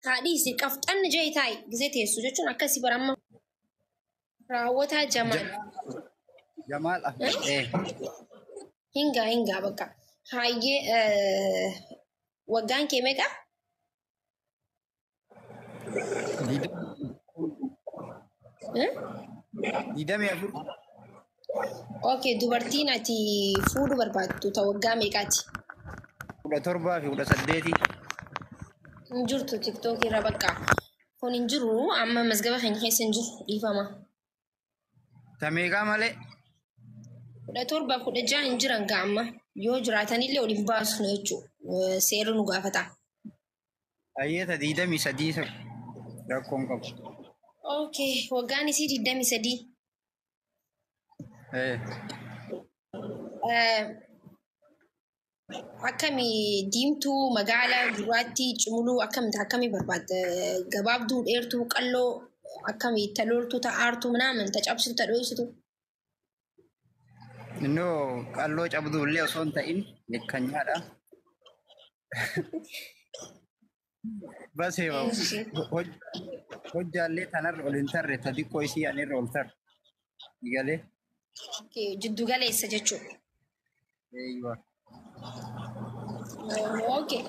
Taadhiisi qafxanni jee taa'i gizee teessu jechuun akkasi bara amma raawwataa jamaal. Jamaal Ahmed. Eh. Hingaa hingaa bakka. Hayyee eh, waggaan kee meeqa? Didamii afur. Okay, dubartiin ati fuudhu barbaaddu ta waggaa meeqaati? kudha torbaa fi kudha saddeeti. Hin jirtu TikTok irra bakka. Kun hin jiru amma mazgaba keenya keessa hin jiru dhiifama. Ta meeqaa malee? Kudha torba kudha jaha hin jiran gaa amma. Yoo jiraatanillee ol hin baasnu jechuudha. Seerri nu gaafata. Ayyee ta digdamii sadii rakkoon qabu. Okay, waggaan isii digdamii sadii. Eh, Eh, Akkami diimtuu magaala gurraattii cimuluu akkamta akkami barbaadda gabaabduu dheertuu qalloo akkami talooltuu ta'aartuu minaaman tacabsitu tadhooysitu Innoo qalloo cabduu illee osoo hin ta'in kan nyaadha. Basee bahu. Eeshi. Hoj- Hojjaallee tanarra ol hin tarre ta xiqqoo isii anirra ol tarre. Galee. Okay, Jiddu galeessa jechuudha. Eeyyuwa. Okay.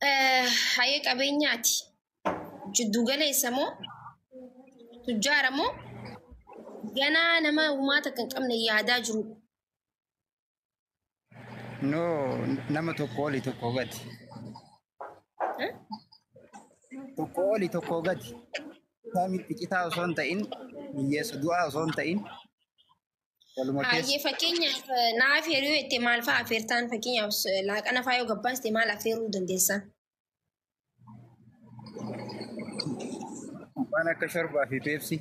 Eh, Hayee qabeenyaati. Jiddu galeessa moo tujjaara moo ganaa nama uumaa takka hin qabne yaadaa jiru. No, nama tokko oli tokko gadi. Eh? Tokko oli tokko gadi. Samitti citaa osoo hin ta'in, hiyyeessa du'aa osoo hin ta'in, waluma keessa. Hayyee fakkeenyaaf eh, naa affeeruu jettee maal fa'aa affeertaan fakkeenyaaf eh, laaqana fa'aa yoo gabbaaste maal affeeruu dandeessaa? Waan akka shorbaa fi peepsii.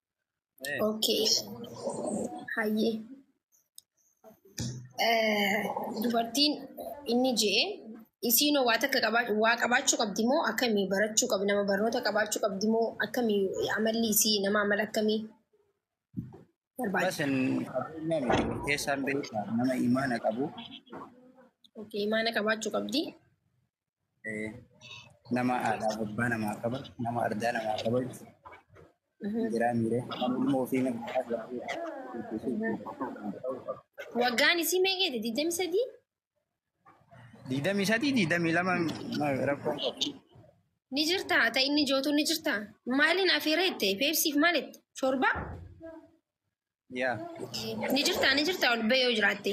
Okay. Hayyee. Eh, Dubartiin inni je'e isiin waa takka qabaa- waa qabaachuu qabdi moo akkamii barachuu qabdi nama barnoota qabaachuu qabdi moo akkamii amalli isii nama amala akkamii barbaada. Basin qabeenya miti murteessaan beekaa nama imaana qabu Okay, imaana qabaachuu qabdi. Nama haadhaa abbaa namaa qaba. Nama ardaa namaa qaba jechuudha. Jiraa miiree. Kan ilma ofii nama Waggaan isii meeqeeti? Digdami sadii? Digdamii sadii digdamii lama rakkoon qabu. Ni jirtaa? Ta inni jootu ni jirtaa? Maaliin afeera jette? Peepsiif maal jette? Shorbaa? Yaa. Ni jirtaa? Ni jirtaa? Ol ba'ee yoo jiraatte.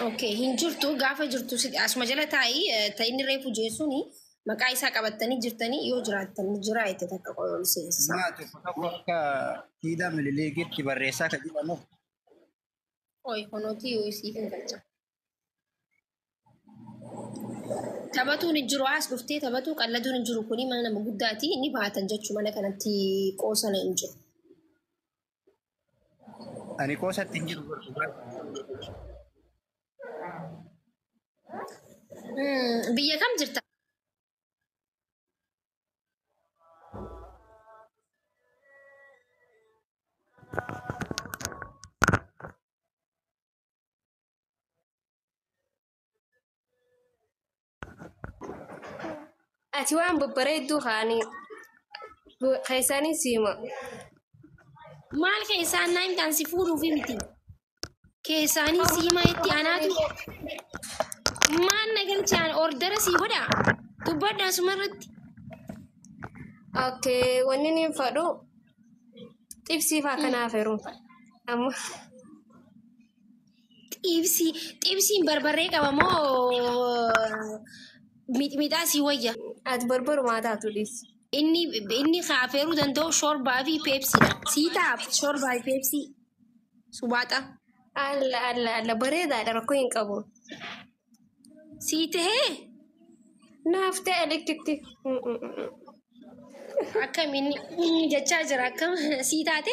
Okay, hin jirtu gaafa jirtu si- asuma jala taa'ii eh, ta inni reefu jeessuun maqaa isaa qabattanii jirtanii yoo jiraattan jira itti takka qola ol seensisaa. Maa tokko tokko akka siidaa milileegiitti barreessaa kan jedhamu Oi, kunuuti yoo isii hin galcha. Taphatuun hin jiru as dhuftee taphatuu qalladuun hin jiru kuni mana nama guddaati ni baatan jechuu mana kanatti qoosana hin jiru. Ani qoosatti hin jiru barsu baay'ee. Mm, Biyya kam jirta? Ati waan babbareedduu kaanii keessanii siima. Maal keessaan naa himtaan si fuudhuuf miti. Keessaanii siimaa itti anaatu. Maal na galchaan ordara sii godha. Dubbadha asuma irratti. Okkee wanni niin fadhu Xibsii faa kana afeeruun faa. Amma Xibsii xibsiin barbarree qaba moo mixmixaa sii wayya? ati barbarumaa taatu dhiisi. Inni inni ka afeeruu danda'u shorbaa fi peepsiidha. Sii taaf shorbaa fi peepsii subaaxa. Alla alla alla bareedaadha rakkoo hin qabu. Sii tahee? Naaf ta'e likkitti. Akkam inni inni jechaa jira akkam sii taate?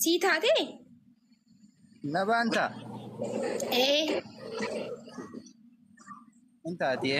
Sii taate? Na baanta. Ee Hin taatee.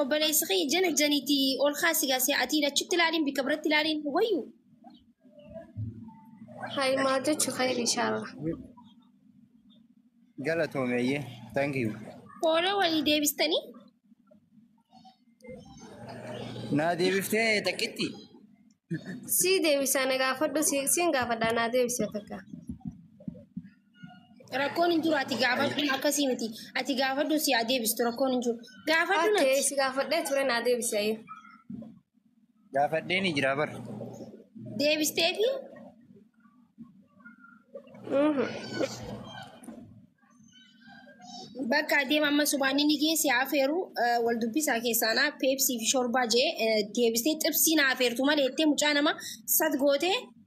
Obboleessi kee jana janiiti ol kaasi gaasi ati achitti ilaaliin bika biratti ilaaliin wayyu. Hayi maa jechu khayri inshallah. Galatoomi ayyee. Thank you. Fooloo walii deebistanii Naa deebiftee takkitti. Si deebisa na gaafadhu si siin gaafadha naa deebisa takka. Rakkoon hin jiru ati gaafadhu akkasii miti. Ati gaafadhu si haa deebistu rakkoon hin jiru. Gaafadhu Okay, natti. si gaafadhee ture naa deebisi ayyuu. Gaafadhee ni jira bar. Deebistee fi bakka adeema amma subaanii ni geesse haa feeru eh, wal dubbisaa keessaanaa peepsii fi shorbaa jee eh, deebistee xibsii na afeertu malee jettee mucaa nama sat gootee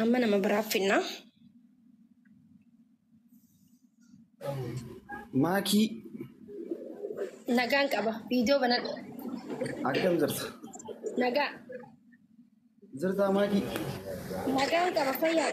Amma nama biraaf finna. Maakii Nagaan qaba. Viidiyoo banadha. akkam jirta? Nagaa. Jirtaa maakii? Nagaan qaba fayyaa.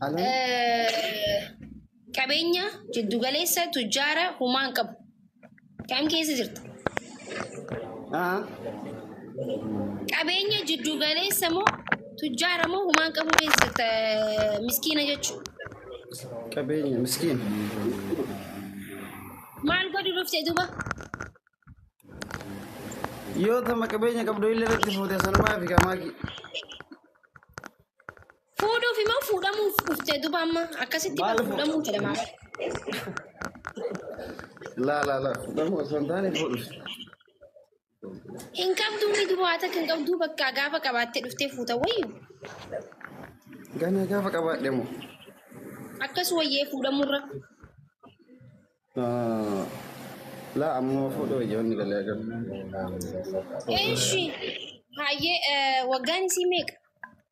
Halaan Eh, qabeenya jiddugaleessa tujjaara humaa hin qabu. Kam keessa jirta? haa Qabeenya jiddugaleessa moo tujjaara moo humaa hin qabu keessa jirta eh, miskiina jechuudha. qabeenya miskiin Maal godhu dhufte duuba? yoo tama qabeenya qabdu illee irratti fuute sanumaa fi kamaaki Fuudhuuf imoo fuudhamuuf dhufte duba amma akkasitti Maal bal fuudhamuu fuudhamu? jedhama bar. Laa laa laa fuudhamu osoo hin taane fuudhuuf. Hin qabduu ni duba haa takka hin qabduu bakka gaafa qabaattee dhuftee fuuta wayyu. Ganaa gaafa qabaadhe moo. Akkas wayyee fuudhamurra. Ah, Laa ammoo fuudhuu ijoonni galee agarra. Eeshi. Hayyee eh, waggaan isii meeqa?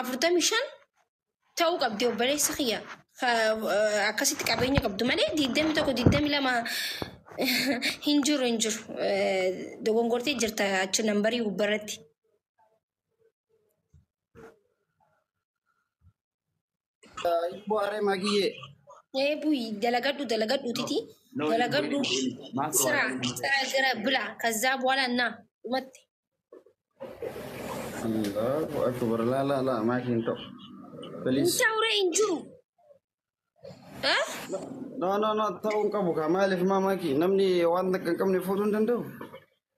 afurtamii shan ta'uu qabdi obboleessa kiyya akkasitti qabeenya qabdu malee digdami tokko digdami lama hin jiru hin jiru dogongortee jirta achi nambarii gubbarratti. Ibboo aree magiyyee. Ee buyi dalagadhu dalagadhu titi dalagadhu sira sira gara bila kaza bwala na umatti Allahu akbar la la la maakiin ta'u. Please. intaure injuru ha No no no ta'uu hin qabu kaa maaliif maa maakii namni waan takka hin qabne fuudhuu hin danda'u.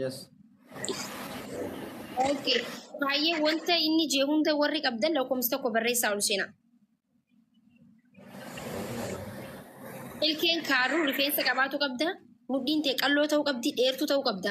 Yes. Okay. Baay'ee wanta inni jee hunda warri qabdan lakkoofsa tokko barreessaa ol seenaa. Ilkeen kaaruu rifeensa qabaatu qabda. Mudhiin tee qalloo ta'uu qabdi, dheertuu ta'uu qabda.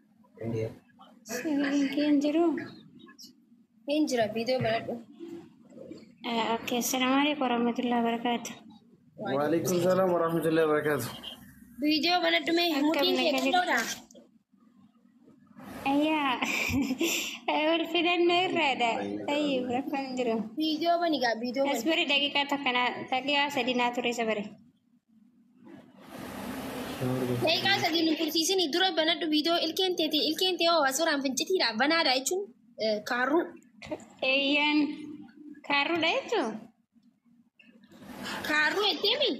Sagaleen kee hin jiru. Hin jira viidiyoo baradhu. Oke, Assalamualaikum warahmatullahi wabarakatuh. Waalaikum salam warahmatullahi wabarakatuh. Viidiyoo baradhu mee Akkam mudhiin kee nagaa xiqqoodha. Ayyaa, wal filannoo irraadha. Tayyib, rakkoon hin jiru. Viidiyoo bani gaa viidiyoo bani. Asbari daqiiqaa takka naa- daqiiqaa sadii naa ture sabari. Daqiiqaa sadii nu tursiisin dura banadhu viidiyoo ilkeen teeti ilkeen tee hoo asirraan fincitiidha banaadha jechuun eh, kaarruu Eeyyeen kaarruudha jechuun kaarruu jetteemi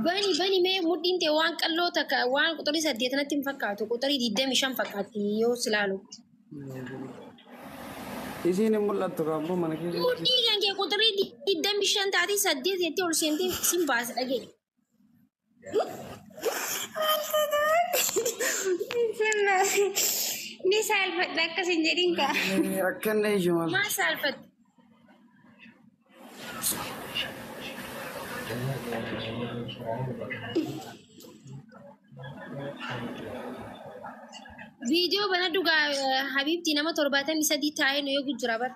Bani bani mee mudhiin tee waan qalloo takka waan quxurii saddeet natti hin fakkaatu quxurii digdami shan fakkaatti yoo si laalutti. Isiin hin mul'attu kaaboo mana keessatti. Mudhii kan kee quxurii digdami shan taatee saddeet jettee ol seentee sin baasa dhageenya. Ni saalfadha akkas hin jedhin kaa. Rakkanne iyyu maal. Maal saalfatta? Viidiyoo bana dhugaa Habiibti nama torbaatamii sadii taa'ee nu eegu jira bara.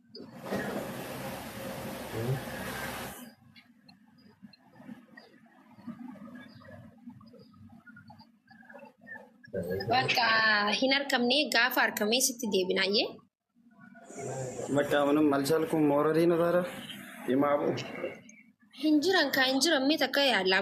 Bakka hin argamne gaafa argamee sitti deebinaayyee. Bakka amanum malchaal kun moora diina taara. Himaa bu'u. Hin jiran kaa hin jiran mee takka yaallaa.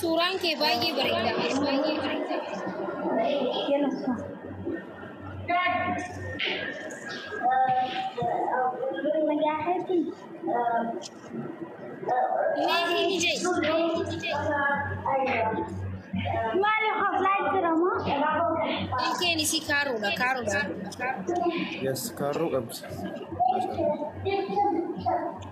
Suuraan kee baay'ee bareeda. Ilkeen isii kaaruudha kaaruudha. Yes, kaarruu qabdi.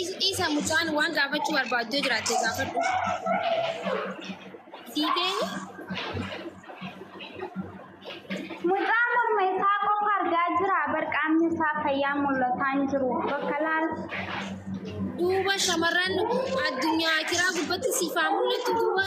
Is- Isa mucaan waan gaafachuu barbaaddu jiraatte gaafadhu. Siitee Mucaa morma isaa qofa argaa jira. Barqaamni isaa fayyaa mul'ataan jiru. Bakka laal duuba shamarran addunyaa kiraa gubbatti siifaa mul'attu duuba